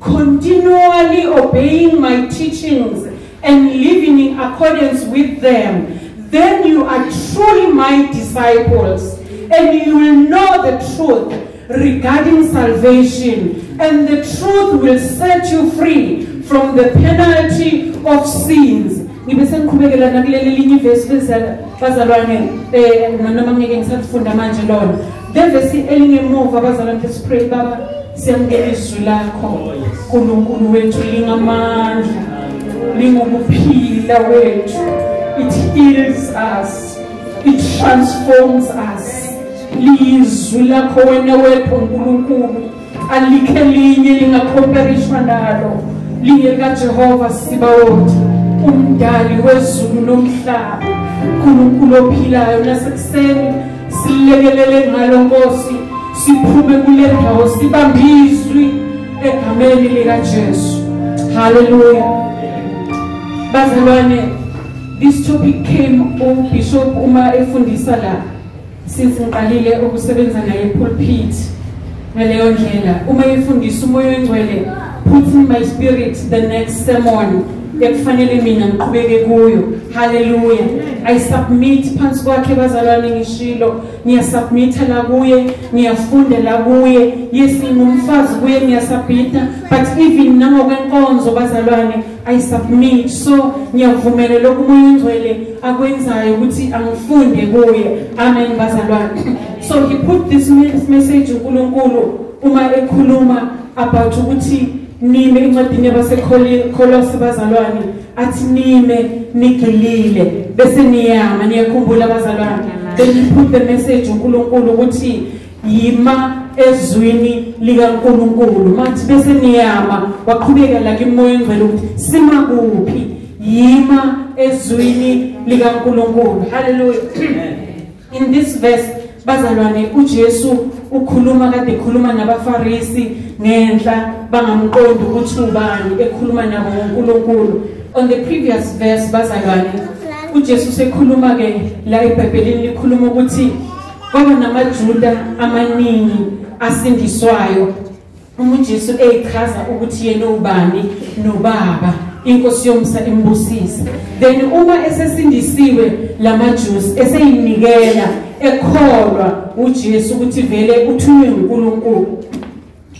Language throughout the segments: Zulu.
Continually obeying my teachings and living in accordance with them, then you are truly my disciples and you will know the truth regarding salvation and the truth will set you free from the penalty of sins ngibe sengiqhubekela nakuleli linye ivesi bezalwane um eh, nanoma ngeke ngisakufunda manje lona Ngevesi elingemuva abazalwa ngeke sipray baba siyamukela izwi lakho uNkulunkulu wethu lingamandla lingukuphila wethu it heals us it transforms us lizwi lakho wena wethu uNkulunkulu alikhe linye lingakhomperishwa nalo lingekajehova sibawoti umdali wezulu nomhlaba nkulunkulu ophilayo nasekuseni silekelele ngalo nkosi siphume kule ndawo sibambe izwi egameni likajesu haleluya bazalwane this topic came ubishop uma efundisa la since ngiqalile ukusebenza naye pulpit ngaleyo ndlela uma efundisa umoya oyingcwele put in my spirit the next sermon ekufanele mina ngiqhubeke kuyo haleluya i submit phansi kwakhe bazalwane ngishilo ngiyasubmitha la kuye ngiyafundela kuye yes ngingumfazi kuye ngiyasubmitha but even nangokwenkonzo bazalwane I submit so ngiyavumela lokhu umoya ongcwele akwenzayo ukuthi angifunde kuye amen bazalwane so he put this message uNkulunkulu uma ekhuluma about ukuthi nime incwadini yabaseKholose bazalwane athi nime nigilile bese niyama niyakhumbula bazalwane then he put the message uNkulunkulu ukuthi yima ezwini likaNkulunkulu mathi bese niyama waqhubeka la kimoya engcwele ukuthi sima kuphi yima ezwini likaNkulunkulu haleluya in this verse bazalwane uJesu ukhuluma kade ekhuluma nabaFarisi ngenhla bangamqondi ukuthi ubani ekhuluma nabo ngoNkulunkulu on the previous verse bazalwane uJesu sekhuluma ke la eBhayibhelini likhuluma ukuthi kwaba namaJuda amaningi asindiswayo uma uJesu eyichaza ukuthi yena ubani nobaba inkosi yomsa imbusise then uma esesindisiwe lamaJusi eseyinikela ekholwa uJesu ukuthi vele uthunywe uNkulunkulu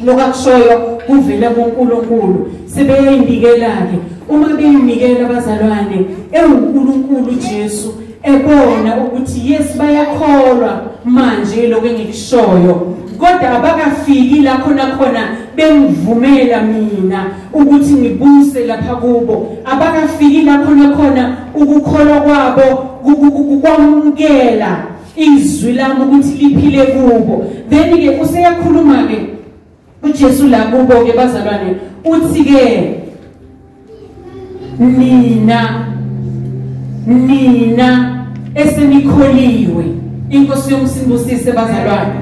lokho akushoyo kuvele kuNkulunkulu sebeyayinikela-ke uma beyinikela abazalwane ewuNkulunkulu uJesu ebona ukuthi yes bayakholwa manje lokho engikushoyo kodwa abakafiki la khona khona bengivumela mina ukuthi ngibuse lapha kubo abakafiki la khona khona ukukholwa kwabo kukwamukela izwi lami ukuthi liphile kubo then ke useyakhuluma ke uJesu la kubo ke bazalwane uthi ke nina nina esenikholiwe inkosi yomsindusise bazalwane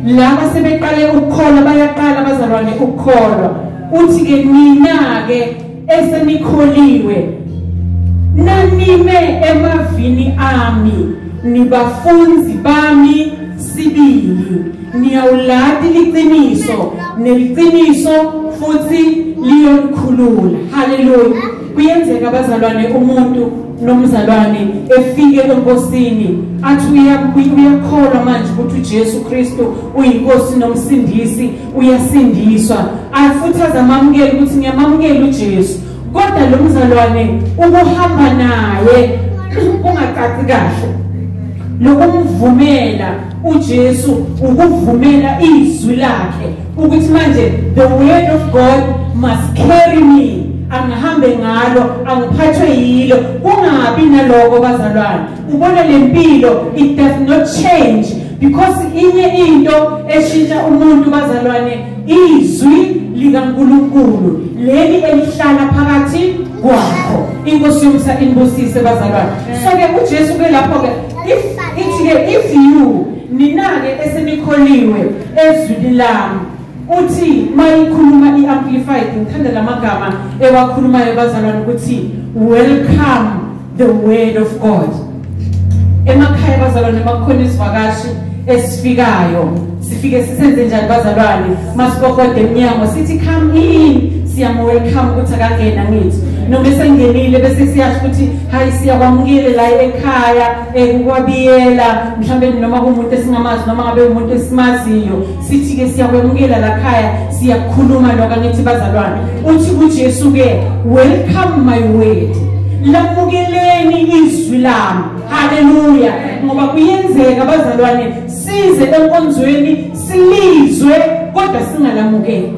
laba sebeqale ukukholwa bayaqala bazalwane ukukholwa uthi ke nina ke esenikholiwe nanime emavini ami nibafunzi bami sibili niyawulati liqiniso neliqiniso futhi liyonikhulula haleluya kuyenzeka abazalwane umuntu nomzalwane efike enkosini athi uyakholwa manje ukuthi uJesu Kristu uyinkosi nomsindisi uyasindiswa futhi azamamukela ukuthi ngiyamamukela uJesu kodwa lo mzalwane ukuhamba naye ungacaci kahle lokumvumela uJesu ukuvumela izwi lakhe ukuthi manje the word of God must carry me angihambe ngalo angiphathwe yilo kungabi naloko bazalwane ubona le mpilo it does not change because inye into eshintsha umuntu bazalwane izwi likaNkulunkulu leli elihlala phakathi kwakho inkosi yomsa inibusise bazalwane so ke uJesu ke lapho ke if ithi ke if you ninake esenikholiwe ezwini lami uthi mayikhuluma i-amplified ngithanda la magama ewakhulumayo bazalwane ukuthi welcome the word of god emakhaya bazalwane makukhona izivakashi esifikayo sifike sisenze njani bazalwane masibokode emnyango sithi come in siyamwelcome ukuthi akangena ngithi noma esengenile bese siyasho ukuthi hayi siyakwamukile la ekhaya ekukwabiyela mhlawumbe noma kumuntu esingamazi noma ngabe umuntu esimaziyo sithi ke siyakwemukela la khaya siyakhuluma lokho angithi bazalwane uthi kuJesu ke welcome my word lamukeleni izwi lami haleluya ngoba kuyenzeka bazalwane size enkonzweni silizwe kodwa singalamukeli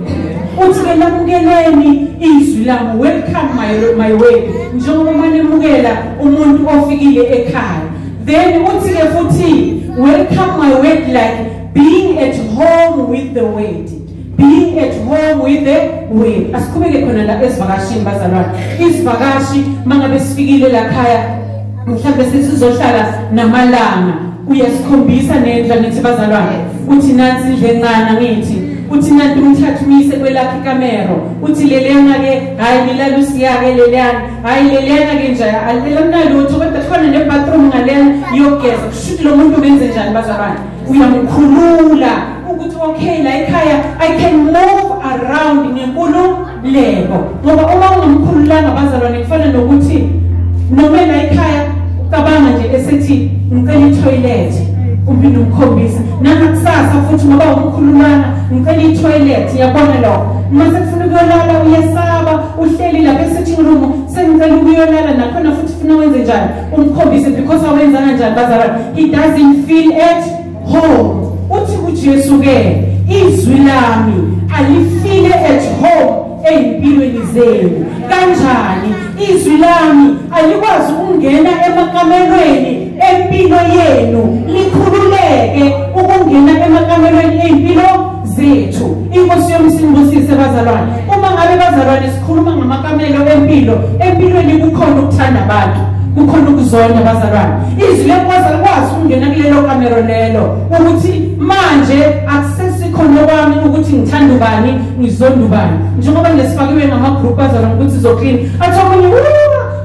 uthi ke lamukeleni izwi lami welcome my my way njengoba manemukela umuntu ofikile ekhaya then uthi ke futhi welcome my way like being at home with the word being at home with the word asikhubeke khona la esivakashini bazalwane isivakashi mangabe sifikile la khaya mhlawumbe sizohlala namalanga uyasikhombisa nendla nithi bazalwane uthi nansi indle encane ngithi uthi nanti umthathu uyise kwelakhe ikamero uthi leliyana-ke hhayi ngilala usiyake leliyana hhayi leliyana-ke nje alilela mnalutho kodwa khona ne-bathroom ngalena yogeza kushuthi lo muntu benze njani bazabana uyamkhulula ukuthi okay la ekhaya i can move around ngenkululeko ngoba uma ungamkhululanga abazalwane kufana nokuthi noma la ekhaya cabanga nje esethi ngicela itoilet uphinde ukukhombisa nangakusasa futhi ngoba ukukhulumana ngicela itoilet yabona lo uma sekufuna ukuyolala uyesaba uhleli lapha esitting room sengicela ukuyolala nakhona futhi funa wenze njani umkhombise because awenzanga njani bazalwane he doesn't feel at home uthi kuJesu ke izwi lami alifile at home ezimpilweni zenu kanjani izwi lami alikwazi ukungena emakamelweni empilo yenu likhululeke ukungena emakamelweni ezimpilo zethu inkosi yami sinibusise bazalwane uma ngabe bazalwane sikhuluma ngamakamelo empilo empilweni kukhona ukuthanda abantu kukhona ukuzona bazalwane izwi lenkosi alikwazi ukungena kulelo kamero lelo ukuthi manje akusesikhono kwami ukuthi ngithanda ubani ngizonda ubani njengoba nje sifakiwe ngamagroup bazalwane ukuthi zoklina athi omunye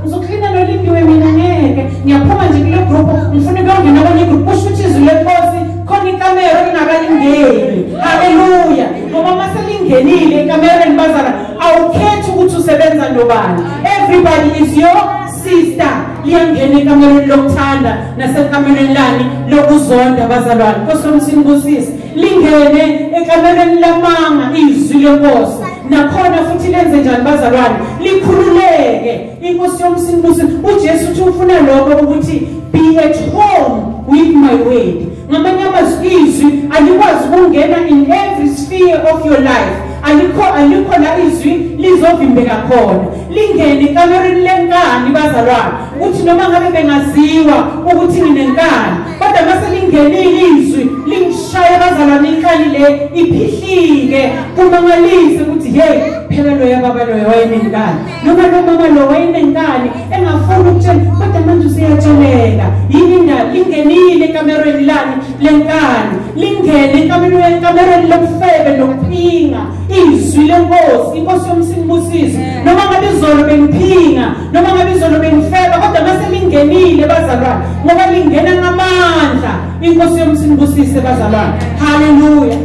ngizoklina nolindiwe mina ngeke ngiyaphuma nje kule group ngifuna ukuyongena kwenye igroup kusho ukuthi izwi lenkosi khona ikamero lingakalingeni haleluya ngoba uma selingenile ekamereni bazala awukhethi ukuthi usebenza nobani everybody is your sister liyangena ekamereni lokuthanda nasekamereni lani lokuzonda bazalwane nkosi omsini kusisi lingene ekamereni lamanga izwi lenkosi nakhona futhi lenze njani bazalwane likhululeke inkosi yomsini busi ujesu uthi ufuna lokho ukuthi be at home with my word ngamanye amazwi izwi alikwazi ukungena in every sphere of your life alikho alikho la izwi lizovimbeka khona lingene ekamereni lenkani bazalwane ukuthi noma ngabe bengaziwa ukuthi nginenkani kodwa mase lingenile izwi lingishaya bazalwane inkani le iphihlike kumangalise ukuthi hey phela loya baba loya wayenenkani noma lomama lo wayenenkani engafuni ukutshela kodwa manje useyatsheleka yini indaba ingenile ekamerweni lani lenkani lingene ekamerweni ekamerweni lobufebe nokuphinga izwi lenkosi inkosi yomsinibusiso noma ngabe izolo bengiphinga noma ngabe izolo bengifeba kodwa mase lingenile bazalwane ngoba lingena ngamandla inkosi yomsinibusise bazalwane haleluya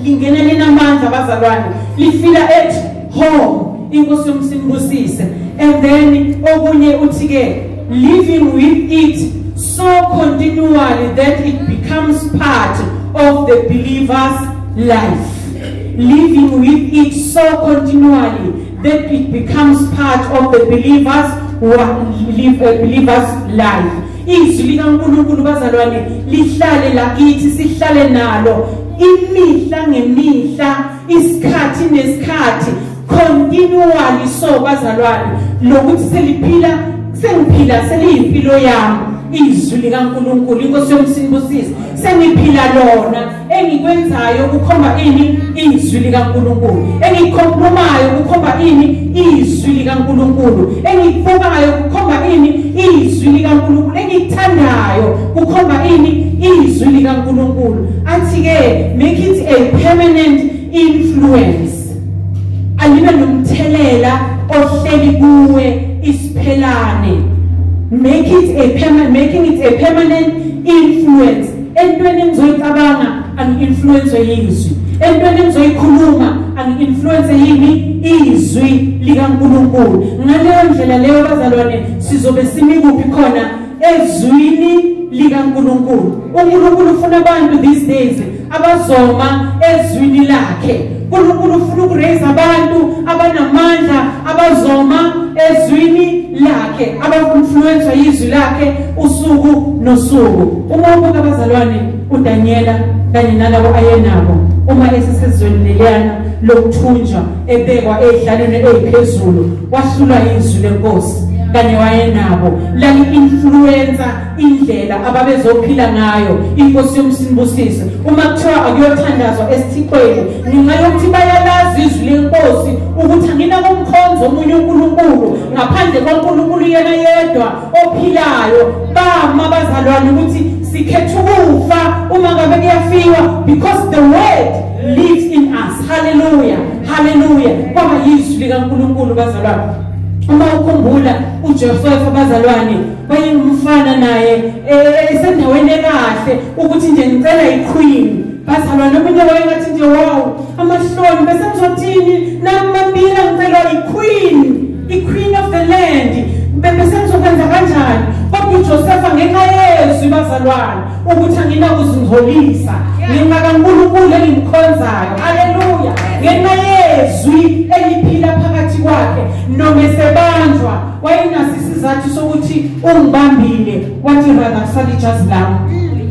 lingena linamandla bazalwane lifika ethi ho inkosi yomsimbusise and then okunye uthi ke living with it so continually that it becomes part of the believer's life living with it so continually that it becomes part of the believer's live a believer's life izwi likaNkulunkulu bazalwane lihlale lakithi sihlale nalo imihla ngemihla isikhathi nesikhathi continually so bazalwane lokuthi seliphila sengiphila seliyimpilo yami izwi likaNkuluNkulu inkosi yomsinibusisi sengiphila lona engikwenzayo kukhomba ini izwi likaNkuluNkulu engikhompromayo kukhomba ini izwi likaNkuluNkulu engikubukayo kukhomba ini izwi likaNkuluNkulu engikuthandayo kukhomba ini izwi likaNkulunkulu athi ke make it a permanent influence alibe nomthelela ohleli kuwe isiphelane make it a permanent making it a permanent influence entweni engizoyicabanga angi-influence yizwi entweni engizoyikhuluma angi-influence yini izwi likankulunkulu ngaleyo ndlela leyo bazalwane sizobe simi kuphi khona ezwini likaNkulunkulu uNkulunkulu ufuna abantu these days abazoma ezwini lakhe uNkulunkulu ufuna ukuraise abantu abanamandla abazoma ezwini lakhe abainfluenswa yizwi lakhe usuku nosuku uma ubuka abazalwane uDaniela kanye nalabo ayenabo uma esesezweni leliyana lokuthunjwa ebekwa ey'hlalweni ey'phezulu wahlulwa yizwi lenkosi kanye wayenabo lali-influwensa indlela ababezophila ngayo inkosi yomsinibusise uma kuthiwa akuyothandazwa esithixweni ngenxa yokuthi bayalazi izwi lenkosi ukuthi anginakumkhonza omunye unkulunkulu ngaphandle kwankulunkulu yena yedwa ophilayo bama bazalwane ukuthi sikhetha ukufa uma ngabe kuyafiwa because the word lives in us haleluya haleluya kwaba yizwi likaNkulunkulu bazalwane uma ukhumbula uJehova bazalwane wayengumfana naye eh, esendaweni ekahle ukuthi nje ngicela iqueen bazalwane omunye wayengathi nje wow amahloni bese ngizothini nami mabila ngicela iqueen iqueen of the land bese ngizokwenza kanjani kodwa uJosefa ngenxa yezwi bazalwane ukuthi anginakuzingcolisa ngenxa kaNkulunkulu engimkhonzayo haleluya ngenxa yezwi eliphila phakathi kwakhe noma esebanjwa wayenaso isizathu sokuthi ungibambile wathi rather kusala ijazi lami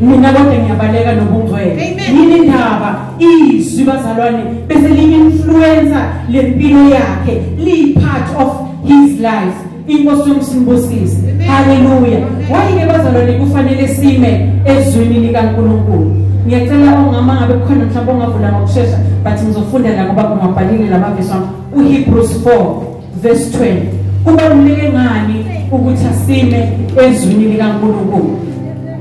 mina kodwa ngiyabaleka nobungcwele yini indaba izwi bazalwane bese liyi-influencer lempilo yakhe liyi-part of his life inkosi yomsimbusisi haleluya wayike bazalwane kufanele sime ezwini likaNkulunkulu ngiyacela ongama ngabe kukhona mhlawumbe ongavula ngokushesha but ngizofunda la ngoba kungabhalile lamavesi wami uHebrews 4 verse 20 kubaluleke ngani ukuthi asime ezwini likaNkulunkulu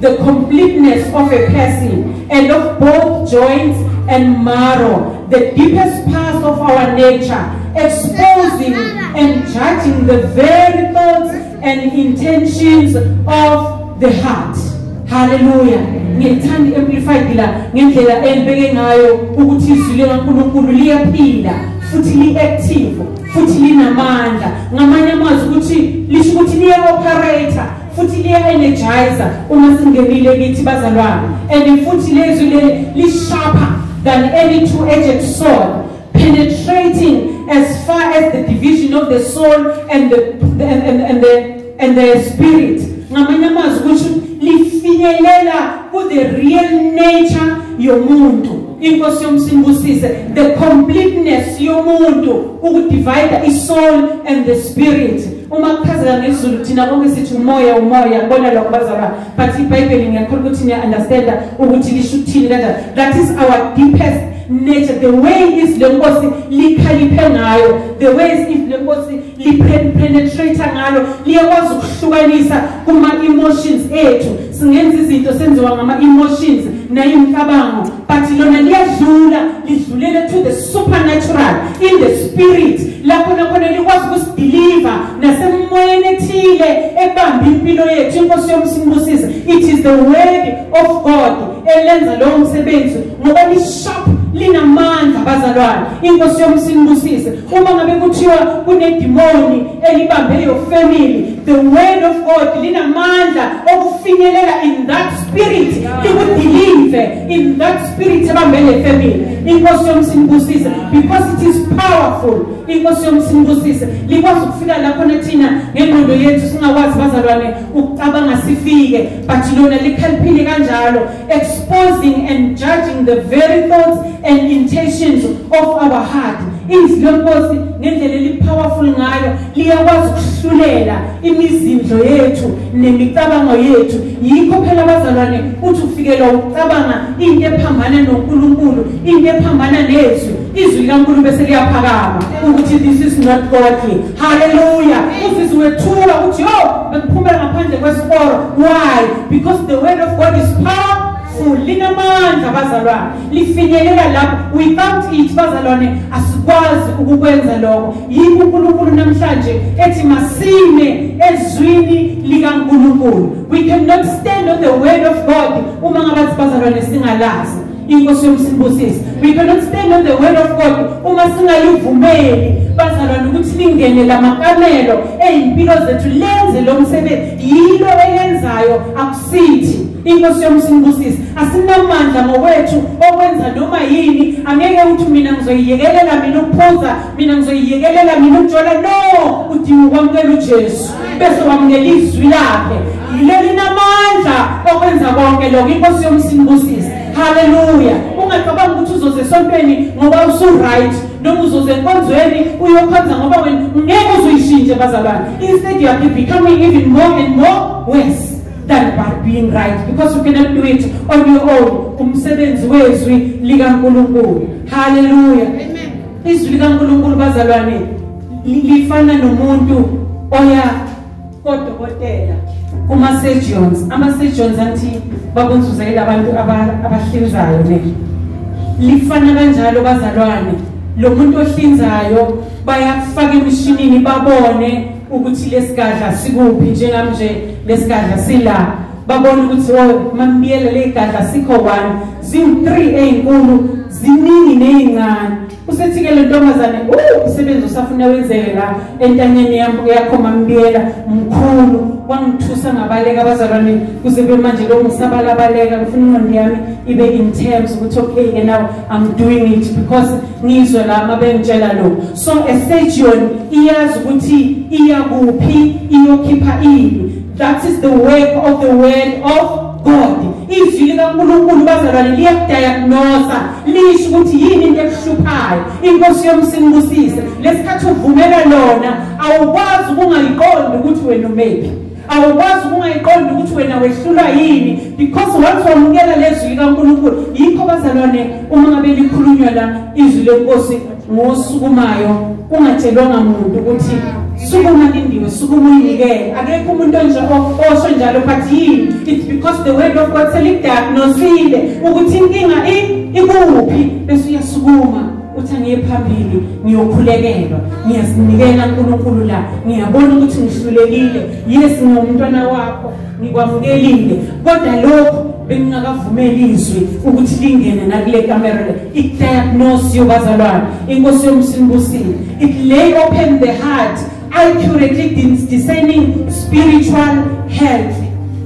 the completeness of a person and of both joints and marrow, the deepest parts of our nature, exposing and judging the very thoughts and intentions of the heart. Hallelujah. ngithanda amplified la ngendlela engibeke ngayo ukuthi izwi likaNkuluNkulu liyaphila futhi liactive futhi linamandla ngamanye amazwi ukuthi lisho ukuthi liya operator futhi liya-energizer uma singenile kithi bazalwane and futhi lezwi leli lisharper than any two-edged sword penetrating as far as the division of the soul and the, the, and, and, and the, and the spirit ngamanye amazwi ukuthi lifinyelela ku-the real nature yomuntu inkosi yomsimbusise the completeness yomuntu ukudivida isoul and the spirit uma kuchazeka ngezulu thina konke sithi umoya umoya bona lokho bazalwa but ibhayibheli ngiyakhona ukuthi niya-understanda ukuthi lisho ukuthini kanjani that is our deepest nature the way izwi lenkosi likhaliphe ngayo the way izwi lenkosi lipenetrate ngalo liyakwazi ukuhlukanisa kuma-emotions ethu singenza izinto senziwa ngama-emotions nayimicabango but lona liyadlula lidlulele to the supernatural in the spirit lapho nakhona likwazi ukusideliver nasemoyeni ethile ebamba impilo yethu inkosi yomsimbusisa it is the word of god elenza lowo msebenzi ngoba lisharp linamandla bazalwane inkosi yomsimbusise uma ngabe kuthiwa kunedimoni elibambe your family the word of god linamandla okufinyelela in that spirit likudilive in that spirit ebambe le family inkosi yomsinibusise because it is powerful inkosi yomsinibusise likwazi ukufika lapho nathina ngengqondo yethu singakwazi bazalwane ukucabanga sifike but lona likhalphile kanjalo exposing and judging the very thoughts and intentions of our heart izwi lenkosi ngendlela elipowerful ngayo liyakwazi ukuhlulela imizindlo yethu nemicabango yethu yikho phela abazalwane uthi ufikelwa ukucabanga into ephambana noNkulunkulu into ephambana nezwi izwi likaNkulunkulu bese liyaphakama ukuthi this is not godly Hallelujah. Uzizi wethula ukuthi yo bengiphumela ngaphandle kwesikoro. Why? Because the word of God is powerful. Linamandla bazalwane. Lifinyelela lapho. We can't eat bazalwane asikwazi ukukwenza lokho. Yikho uNkulunkulu namhlanje ethi masine ezwini likaNkulunkulu. We cannot stand on the word of God uma ngabathi bazalwane singalazi. inkosi yomsibusisi we cannot stand on the word of god uma singalivumeli bazalwane ukuthi lingene la makamelo eyimpilo zethu lenze lo msebenzi yilo elenzayo akusithi inkosi yomsibusisi asinamandla ngokwethu okwenza noma yini angeke uthi mina ngizoyiyekelela mina ukuphuza mina ngizoyiyekelela mina ukujola no udinga ukwamukela ujesu bese wamnike izwi lakhe yilo linamandla okwenza konke lokho inkosi yomsinibusisi haleluya ungacabanga ukuthi uzoze esontweni ngoba usu-right noma uzoze enkonzweni uyokhonza ngoba wena ngeke uzuyishintshe bazalwane instead you are becoming even more and more worse than by being right because you cannot do it on your own umsebenzi wezwi likankulunkulu haleluya izwi likankulunkulu bazalwane lifana nomuntu oya kodokotela kuma surgeons ama surgeons athi bakunzuza ilabantu abahlinzayo ne lifana kanjalo bazalwane lo muntu ohlinzayo bayakufaka emishinini babone ukuthi lesigadla sikuphi njengamnje lesigadla sila babone ukuthi oh mambiyele legadla sikho one ziwu 3 ezinkulu ziningi nezincane usethike le ntombazane uh, umsebenzi usafuna wenzeke la entanyeni yam yakho mambiyela mkhulu wangithusa ngabaleka abazalwane kuze kube manje lo ngisabalabaleka ngifuna ingqondo yami ibe in terms ukuthi okay ke now i'm doing it because ngizwe la uma bengitshela lo so a surgeon iyazi ukuthi iya kuphi iyokhipha ini that is the work of the word of god izwi likankulunkulu bazalwane liyakudayagnosa lisho ukuthi yini into ekuhluphayo inkosi yomsinibusise lesikhathi uvumela lona awukwazi ukungayiqondi ukuthi wena umephi awukwazi ukungayiqondi ukuthi wena wehlulwa yini because once wamukela lezwi likaNkulunkulu yikho bazalwane uma ngabe likhulunywa la izwi lenkosi ngosukumayo kungatshelwanga muntu ukuthi sukuma lindiwe sukuma uyinikele akekho umuntu onje osho njalo but yini it's because the word of god selidagnosile ukuthi inkinga ikuphi bese uyasukuma uthi angiye phambili ngiyokhulekelwa ngiyazinikela nkulunkulu la ngiyabona ukuthi ngihlulekile yes ngingumntwana wakho ngikwamukelile kodwa lokho bengingakavumeli izwi ukuthi lingene nakule kamera le i-diagnose yobazalwane inkosi yomsimbusile it lay open the heart accurately discerning spiritual health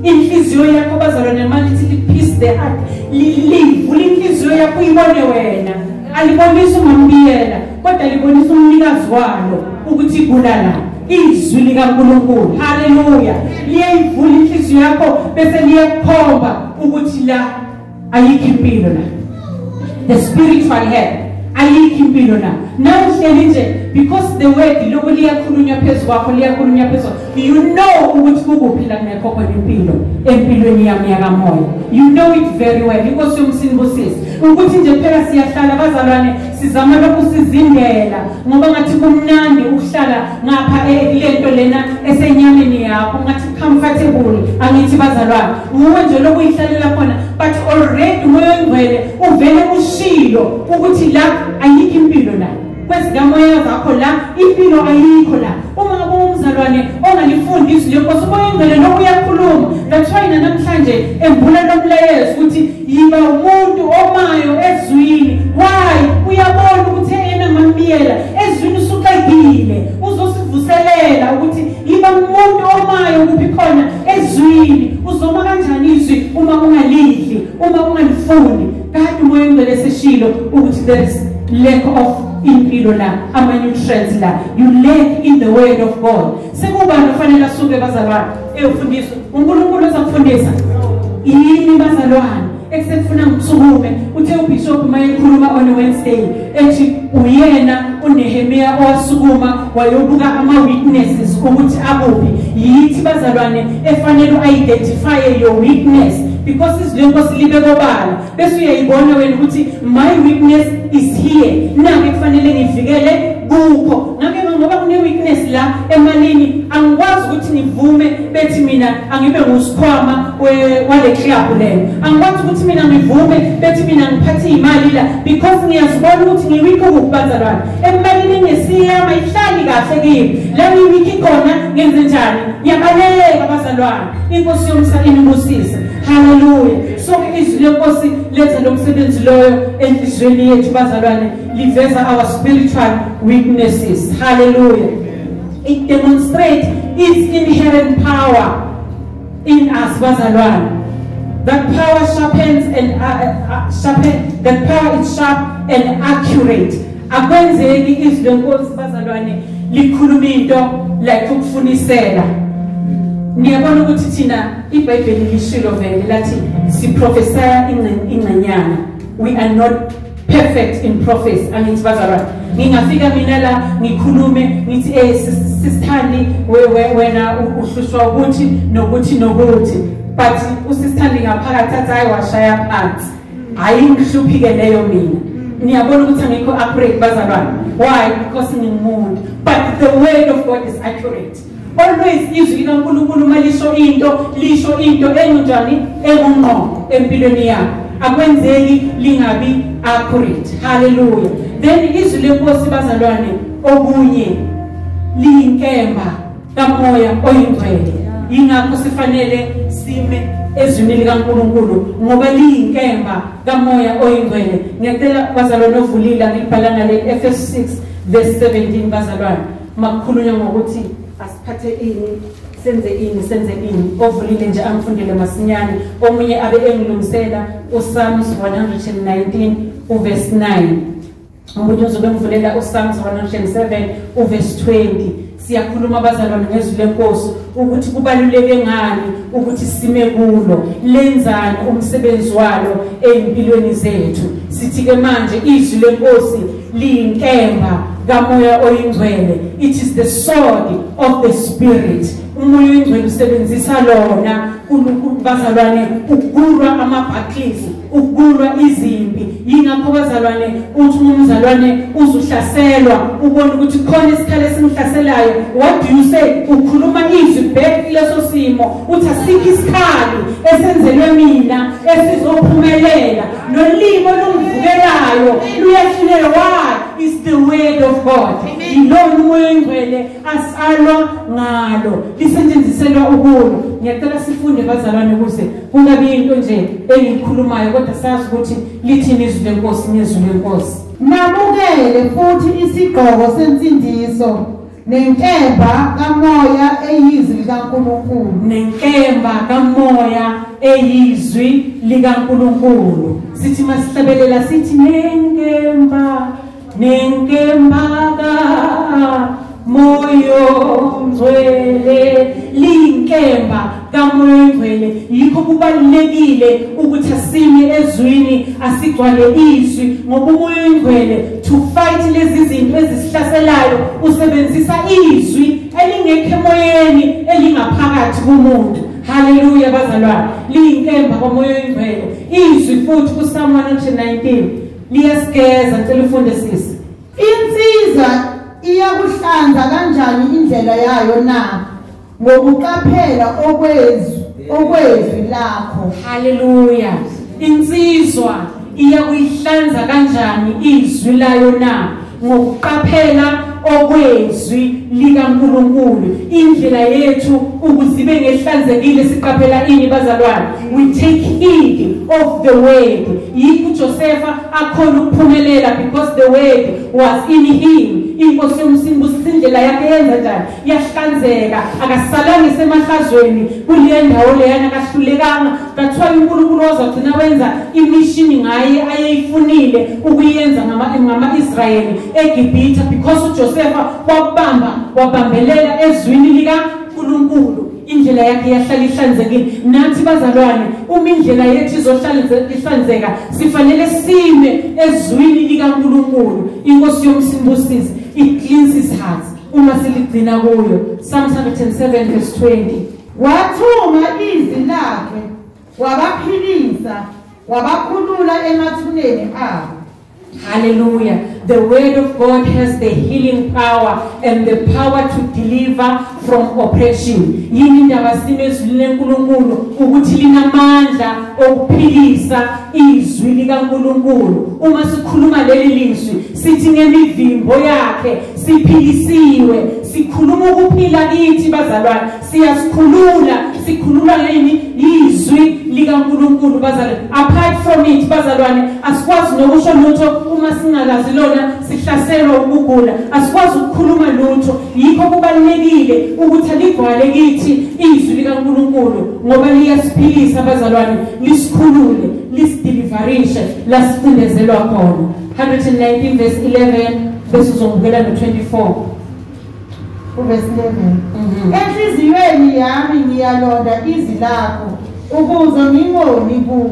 inhliziyo yakho bazalwane manje ithi liphise the heart livula inhliziyo yakho uyibone wena alibonisi umambiyela kodwa libonisa umnikazi walo ukuthi igula lapho izwi likaNkulunkulu haleluya liyayivula inhliziyo yakho bese liyakhomba ukuthi la ayikho impilo la the spiritual head ayikho impilo la nawuhleli nje because the word lokho liyakhulunywa phezu kwakho liyakhulunywa phezu you know ukuthi kukuphi la kungekho khona impilo empilweni yami yakamoya you know it very well inkosi yomsini busisi ukuthi nje phela siyahlala bazalwane sizama lokhu sizindela ngoba ngathi kumnandi ukuhlala ngapha kulento e, lena esenyameni yakho ngathi comfortable angithi bazalwane nguwe nje lokuyihlalela khona but already umoya ongcwele uvele ushilo ukuthi la ayikho impilo la kwezikamoya zakho la impilo ayikho la uma ngabe umzalwane ongalifundi izwi lenkosi umoya ongcwele lokhu uyakhuluma that's why namhlanje embula lomlayezo ukuthi yiba umuntu omayo ezwini why uyabona ukuthi ena mamiyela ezwini usuqedile uzosivuselela ukuthi yiba umuntu omayo kuphi khona ezwini uzoma kanjani izwi uma ungalidli uma ungalifundi kade umoya ongcwele seshilo ukuthi there is lack of impilo la ama nutrients la you lack in the word of god sekubani ofanele asuke bazalwane eyofundiswa unkulunkulu ozakufundisa yini bazalwane esekufuna ngikusukume uthe ubishop uma ekhuluma on wednesday ethi uyena unehemiya owasukuma wayobuka ama-witnesses ukuthi akuphi yithi bazalwane efanele u-identifye your witness because izwi lenkosi libe kobala bese uyayibona wena ukuthi my weakness is here nake kufanele ngivikele kukho nake ngoba kune-weakness la emalini angikwazi ukuthi ngivume bethi mina angibe ngusikhwama wale club leyo angikwazi ukuthi mina ngivume bethi mina ngiphathe iy'mali la because ngiyazibona ukuthi ngiwikho kukubazalwane emalini ngesiyama ihlali kahle kimi la ngiwikhi khona ngenze njani ngiyabaleka bazalwane inkosi yomsa inibusise Hallelujah. So izwi lenkosi letha lo msebenzi loyo enhlizweni yethu bazalwane liveza our spiritual weaknesses. Hallelujah. It demonstrates its inherent power in us bazalwane. That power sharpens and uh, uh, uh sharpen that power is sharp and accurate. Akwenzeki izwi lenkosi bazalwane likhuluma into like ukufunisela. Niyabona ukuthi thina IBhayibheli lishilo vele lathi siprofesaya ingcenyana. We are not perfect in prophecy. Angithi bazalwane. Ngingafika mina la ngikhulume ngithi eh sisithandi wena uhlushwa ukuthi nokuthi nokuthi. But usisithandi ngaphakathi athi hayi washaya phansi. Hayi ngihluphike leyo mina. Niyabona ukuthi angikho accurate bazalwane. Why? Because ngingumuntu. But the word of God is accurate. Always izwi likaNkulunkulu uma lisho into lisho into enjani engungqo empilweni yakho akwenzeki lingabi accurate haleluya then izwi lenkosi bazalwane okunye liyinkemba kamoya oyingcwele yingakho sifanele sime ezwini likaNkuluNkulu ngoba liyinkemba kamoya oyingcwele ngicela bazalwane ovulile ngibhala ngale Efesu 6 verse 17 bazalwane uma kukhulunywa ngokuthi asiphathe ini senze ini senze ini ovulile nje angifundele masinyane omunye abe engilungisela usalms 119 uvesi 9 omunye uzobe engivulela usalms 107 uvesi 20 siyakhuluma abazalwane ngezwi lenkosi ukuthi kubaluleke ngani ukuthi sime kulo lenzani umsebenzi walo ezimpilweni zethu sithi ke manje izwi lenkosi liyinkemba kamoya oyingcwele it is the sword of the spirit umoya oyingcwele usebenzisa lona bazalwane ukulwa ama-battles ukulwa izimpi yingakho bazalwane uthi uma umzalwane uzuhlaselwa ubone ukuthi khona isikhala esimhlaselayo what do you say ukhuluma izwi back kuleso simo uthi asikho isikhali esenzelwe mina esizophumelela nolimi olungivukelayo luyahluleka why is the word of god yilona umoya oyingcwele asalwa ngalo lisetshenziselwa ukulo ngiyacela sifunde bazalwane ukuze kungabi yinto nje engiyikhulumayo kodwa sazi ukuthi lithini izwi lenkosi ngezwi lenkosi nabukele futhi isigqoko sensindiso nenkemba kamoya eyizwi likaNkulunkulu nenkemba kamoya eyizwi likaNkulunkulu sithi masihlabelela sithi nenkemba nenkemba ka moyo ngcwele linkemba kamoya oyingcwele yikho kubalulekile ukuthi asime ezwini asigcwale izwi ngoba umoya oyingcwele to fight lezi zinto ezisihlaselayo usebenzisa izwi elingekho emoyeni elingaphakathi kumuntu haleluya bazalwane liyinkemba komoya oyingcwele izwi futhi kusamu 119 liyasigeza ngicela ufunde sisi insiza iyakuhlanza kanjani indlela yayo na ngokuqaphela okwezwi okwezwi lakho haleluya insizwa iya kuyihlanza kanjani izwi layo na ngokuqaphela okwezwi likaNkuluNkulu indlela yethu ukuzibe ngehlanzekile siqaphela ini bazalwane we take heed of the word yikho uJosefa akhona ukuphumelela because the word was in him inkosi yomsimbusi indlela yakhe yenza njani yahlanzeka akasalanga isemahlazweni kuleyo ndawo leyana akahlulekanga kathiwa unkulunkulu wazogcina wenza imishini ngaye ayeyifunile ukuyenza ngama-israyeli egibhitha because ujosefa wabamba wabambelela ezwini likankulunkulu indlela yakhe yahlala ihlanzekile nathi bazalwane uma indlela yethu izohlala ihlanzeka sifanele sime ezwini likankulunkulu inkosi yomsimbusizi it cleans his heart uma siligcina kuyo Psalm 107 verse 20 wathuma izwi lakhe wabaphilisa wabakhulula emathuneni abo haleluya the word of god has the healing power and the power to deliver from oppression yini indaba sime ezwini lenkulunkulu ukuthi linamandla okuphilisa izwi likankulunkulu uma sikhuluma leli lizwi Sithi ngemivimbo yakhe siphilisiwe sikhuluma ukuphila kithi bazalwane siyasikhulula sikhuluma ngeyini yizwi likaNkuluNkulu bazalwane apart from it bazalwane asikwazi nokusho lutho uma singakazi lona sihlaselwa ukugula asikwazi ukukhuluma lutho yikho kubalulekile ukuthi alivale kithi izwi likaNkuluNkulu ngoba liyasiphilisa bazalwane lisikhulule lisideliverishe lasifundezelwa khona 119 verse 11 bese uzongibukela no-24 uverse 11 Mhm. enhliziyweni yami ngiyalonda izwi lakho ukuze ngingoni kuwe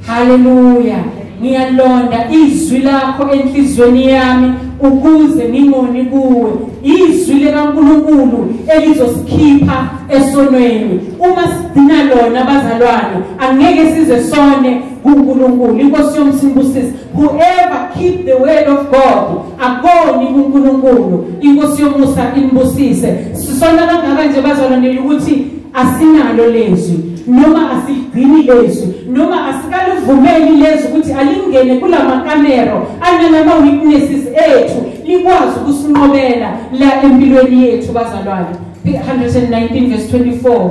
haleluya ngiyalonda izwi lakho enhliziyweni yami ukuze ngingoni kuwe izwi likankulunkulu elizosikhipha esonweni uma sigcina lona bazalwane angeke size sone kunkulunkulu inkosi yomsimbusisi Whoever keep the word of God akoni kuNkulunkulu inkosi yomusa imbusise sisona kangaka nje bazalwane ukuthi asinalo lezwi noma asigcini lezwi noma asikalivumeli lezwi ukuthi alingene kulamakamero analama witnesses ethu likwazi ukusinqobela la empilweni yethu bazalwane 119 verse 24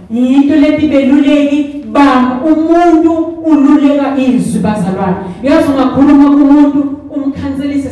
yinto lethi beluleki banga umuntu ululeka izwi bazalwane yazi ungakhuluma kumuntu umkhanselise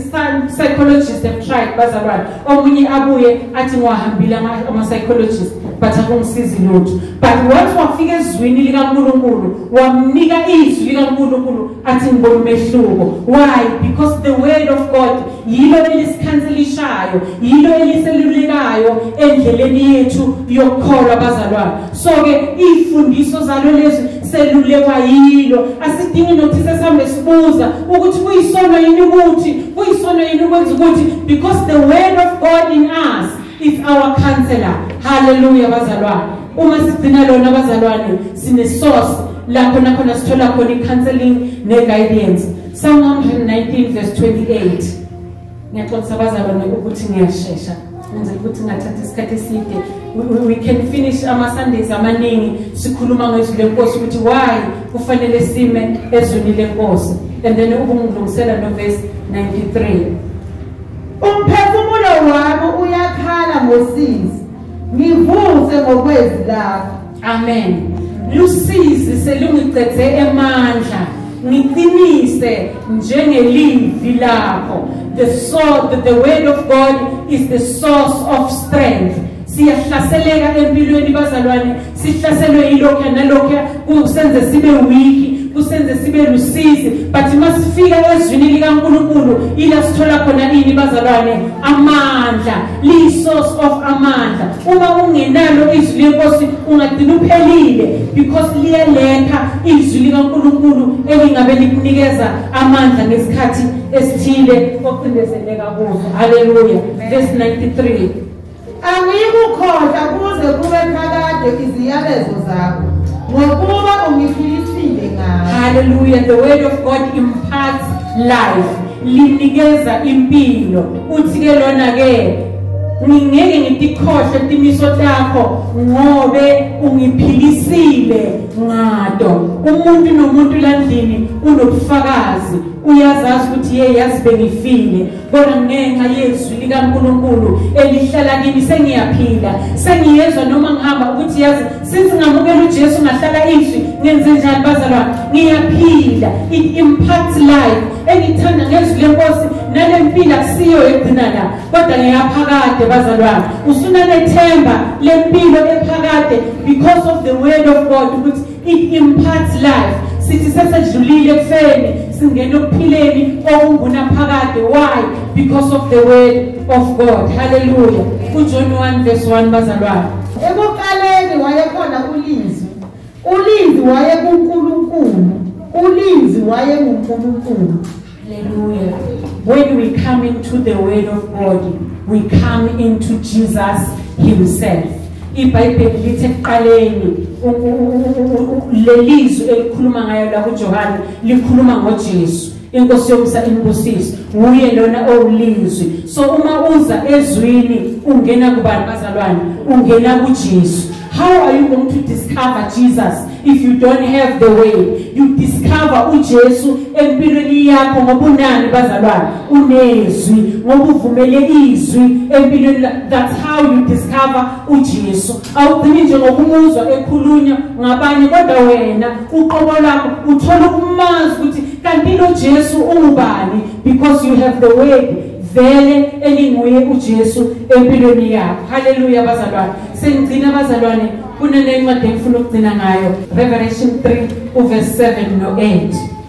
psychologist have tried bazalwane omunye abuye athi ngiwahambile ama-psychologist but akungisizi lutho but once wafika ezwini likankulunkulu wamnika izwi likankulunkulu athi ngibona umehluko why because the word of god yilo elisikhansilishayo yilo eliselulekayo endleleni yethu yokukholwa bazalwane so-ke iy'fundiso zalo lezi selulekwa yilo asidingi nokuthi sesihambe sibuza ukuthi kuyisono yini ukuthi kuyisono yini ukwenza ukuthi because the word of god in us is our counselor halleluya bazalwane uma sigcina lona bazalwane sinesource lapho nakhona sithola khona i-counseling ne-guidance Psalm 119 verse 28 ngiyaxolisa abazalwane ukuthi ngiyashesha ngenzela ukuthi ngathatha isikhathi eside we can finish ama-sundays amaningi sikhuluma ngezwi lenkosi ukuthi why kufanele sime ezwini lenkosi and then ubungilungisela novesi 93 umphefumulo wami uyakhala ngosizi ngivuse ngokwezi lakho Amen. Lusizi selungicedze emandla. Ngiqinise njengelivi lakho. The sword, the word of God is the source of strength. Siyahlaseleka empilweni bazalwane, sihlaselwe yilokho nalokho kusenze sibe weak kusenze sibe lusizi but masifika ezwini likaNkuluNkulu ila sithola khona ini bazalwane amandla li source of amandla uma ungenalo izwi lenkosi ungagcina uphelile because liyaletha izwi likankulunkulu elingabe likunikeza amandla ngesikhathi esithile ocindezeleka kuzo haleluya verse 93 angiyikukhohlwa kuze kube phakade iziyalezo zakho ngokuba ungiphilisile ngayo haleluya the word of god imparts life linikeza impilo uthi ke lona ke ngingeke ngitikhohle timiso takho ngobe ungiphilisile ngado umuntu nomuntu landlini unobufakazi uyazazi ukuthi ye yazi bengifile kodwa ngenxa yezwi likaNkuluNkulu elihlala kimi sengiyaphila sengiyezwa noma ngihamba ukuthi yazi since ngamukela uJesu ngahlala izwi ngenze njani bazalwane ngiyaphila it impacts life engithanda ngezwi lenkosi nale mpilo akusiyo egcina la kodwa ngeyaphakade bazalwane usunanethemba lempilo ephakade because of the word of god ukuthi it imparts life sithi sesedlulile ekufeni singena okuphileni okungunaphakade why because of the word of god haleluya ujohn 1 verse 1 bazalwane ekuqaleni wayekhona ulizwi Ulinzi wayekuNkulunkulu. Ulinzi wayenguNkulunkulu. Hallelujah. When we come into the word of God, we come into Jesus himself. IBhayibheli lithi ekuqaleni lelizwi elikhuluma ngayo la kuJohane likhuluma ngoJesu. inkosi yomusa imbusise nguye lona owulizwi so uma uza ezwini ungena kubani bazalwane ungena kujesu how are you going to discover jesus if you don't have the way you discover ujesu empilweni yakho ngoba unani bazalwane unezwi ngoba uvumele izwi empilweni that's how you discover ujesu awugcini nje ngokumuzwa ekhulunywa ngabanye kodwa wena uqobo lakho uthola ukumazi ukuthi kanti lo Jesu ungubani because you have the word vele elinguye uJesu empilweni yakho haleluya bazalwane sengigcina bazalwane kunenye incwadi engifuna ukugcina ngayo Revelation 3 uverse 7 no 8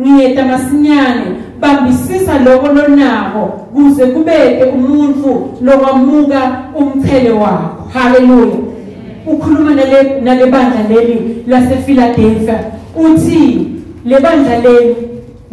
Ngiyeta masinyane bambisisa loko lonako kuze kubete umuntfu lowamuka umchele wakho. Hallelujah. Ukhuluma nale nalebandla leli lasePhiladelphia uthi lebandla leli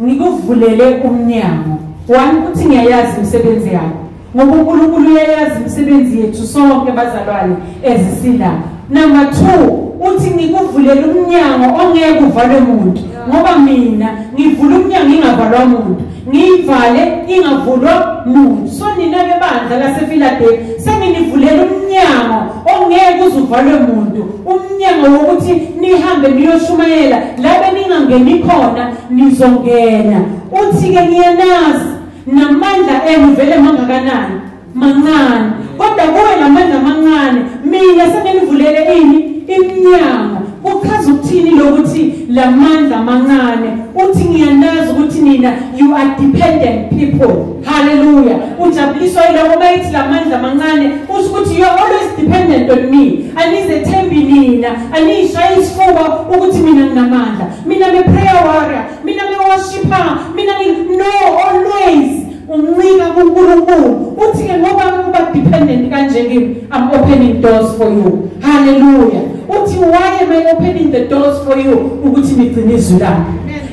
ngikuvulele umnyango. Wani uthi ngiyayazi imisebenzi yakho. Ngoba uNkulunkulu uyayazi imisebenzi yethu sonke bazalwane ezisila. Number 2 uthi ngikuvulela umnyango ongeke uvalwe umuntu ngoba mina ngivula umnyango ingavalwa umuntu ngiyivale ingavulwa muntu so nina ke bandla lasefiladelfi senginivulela umnyango ongeke uzuvalwe muntu umnyango wokuthi nihambe niyoshumayela labe ningangeni khona nizongena uthi-ke ngiyenazi namandla enu vele mangakanani mancane kodwa kuwe lamandla amancane mina sengenivulele ini iminyango kuchaza ukuthini lokuthi lamandla amancane uthi ngiyanazi ukuthi nina you are dependent people haleluya ujabuliswa yiloko bayithi lamandla amancane usho ukuthi you are always dependent on me anizethembi nina aniyishayi isifuba ukuthi mina nginamandla mina ngiprayer warrior mina bewashipha mina no always uncika kuNkulunkulu uthi ke ngoba kuba dependent kanje kimi i'm opening doors for you hallelujah uthi why am i opening the doors for you ukuthi nigcine izwi lami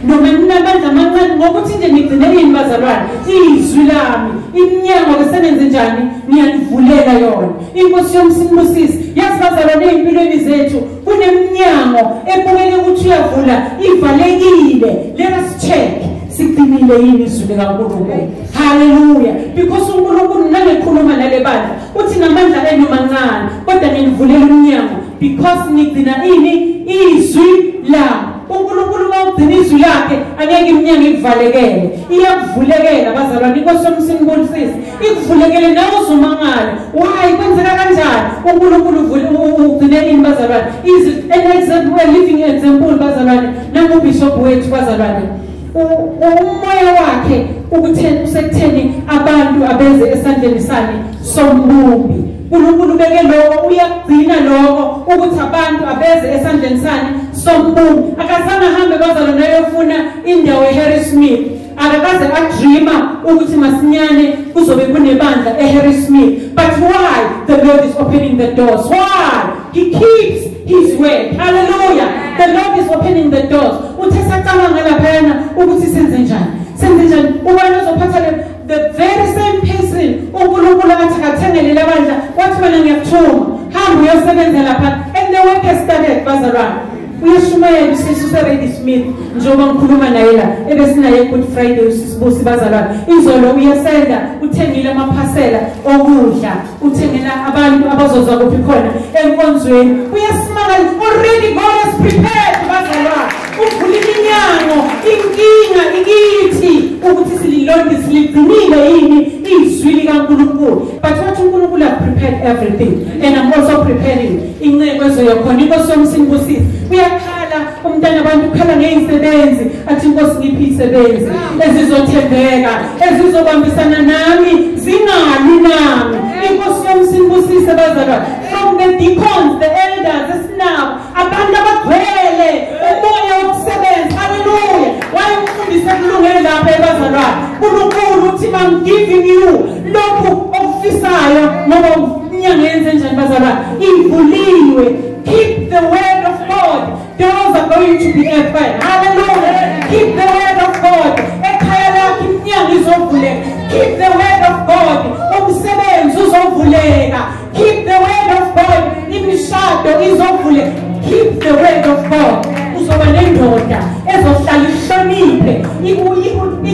noma ninamandla amancane ngokuthi nje nigcine yini bazalwane izwi lami iminyango lisebenze njani niyanivulela yona inkosi yomsinibusisi yazi bazalwane ezimpilweni zethu kunemnyango ebukeke ukuthi uyavula ivalekile let us check siqinile yini izwi likankulunkulu haleluya because unkulunkulu nangekhuluma nale bandla uthi namandla enu mancane kodwa nginivulela umnyango because nigcina ini izwi lami unkulunkulu uma ugcina izwi lakhe angeke imnyango ikuvalekele iyakuvulekela bazalwane inkosi yomsinibulisizi ikuvulekele nawe uzomangala why kwenzeka kanjani unkulunkulu ugcine ini bazalwane is an example a living example bazalwane nangubishop wethu bazalwane umoya wakhe ukutheni usekutheni abantu abeze esandleni sami sombumbi uNkulunkulu beke lokho uyakugcina lokho ukuthi abantu abeze esandleni sani sombumbi akazange ahambe bazalwane ayofuna indawo eHarrismith akakaze adreama ukuthi masinyane kuzobe kunebandla eHarry Smith but why the Lord is opening the doors why he keeps his word hallelujah the Lord is opening the doors uthe sacabanga laphayana ukuthi senze njani senze njani ubani ozophatha le the very same person uNkulunkulu athi akathengele labandla wathi mina ngiyakuthuma hamba uyosebenza lapha and the work has started bazalwane uyashumayela usisi useredi smith njengoba ngikhuluma naye la ebesinaye good friday usisibusi bazalwane izolo uyesenda uthengile amaphasela okudla uthengela abantu abazozwa kuphi khona enkonzweni uyasimangala already god is prepared bazalwane uvula iminyango inkinga ikithi ukuthi sililonde siligcinile yini izwi likankulunkulu but wathi unkulunkulu have prepared everything and i'm also preparing inceku ezoya khona inkosi yomsini busizi uyakhala umntana abantu ukhala ngey'sebenzi athi inkosi ngiphi iy'sebenzi ezizothembeka ezizobambisana nami zingali nami inkosi yomsini busise bazalwa from the deacons the elders esinabo abantu abagcwele umoya wokusebenza haleluya wayemfundise kulungele lapha ebazalwane unkulunkulu uthi i'm giving you lokhu okufisayo noma inyanga yenze njani bazalwane ivuliwe keep the word of god doors are going to be open hallelujah keep the word of god ekhaya lakho iminyango izovuleka keep the word of god umsebenzi uzovuleka keep the word of god imishado izovule keep the word of god uzoba nendoda ezohlala ihloniphe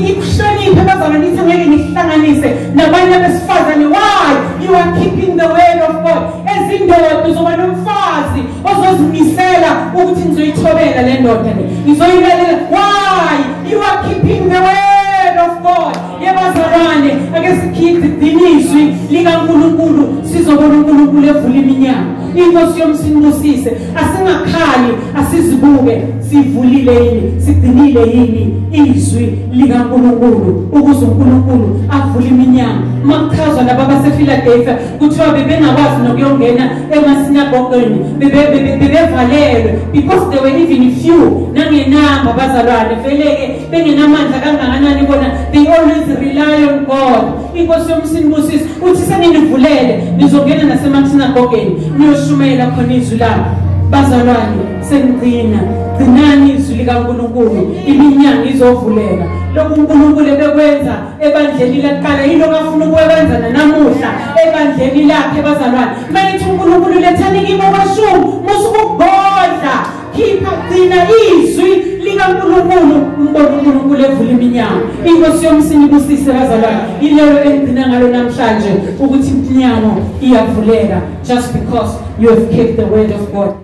ikuhloniphe bazana nithi ngeke nihlanganise nabanye abesifazane why you are keeping the word of god ezindoda uzoba nomfazi ozozimisela ukuthi ngizoyithobela le ndoda le ngizoyilalela why you are keeping the word of god yebazalwane ake sikhiphe iqinizwi likaNkulunkulu sizobona uNkulunkulu evula iminyango inkosi yomsinibusise asingakhali asizibuke sivulile yini sigcinile yini izwi likaNkulunkulu ukuze uNkulunkulu avule iminyango makuchazwa laba basePhiladelphia kuthiwa bebengakwazi nokuyongena emasinagogweni bebevalelwe because they were even few nangenamba bazalwane vele-ke bengenamandla kangakanani kona they always rely on god inkosi yomsinibusisi uthi seninivulele nizongena nasemathinagogeni niyoshumayela khona izwi labo bazalwane senigcina gcinani izwi likankulunkulu iminyanga izovuleka lokhu unkulunkulu ebekwenza ebandleni laqala yilo kafuna ukukwenza nanamuhla ebandleni lakhe bazalwane mayithi unkulunkulu lethani kimi okweshumi musukugodla khipha gcina izwi likaNkulunkulu umbone uNkulunkulu evula iminyango inkosi yomsini ibusise bazalwane ilelo engigcina ngalo namhlanje ukuthi iminyango iyavuleka just because you have kept the word of God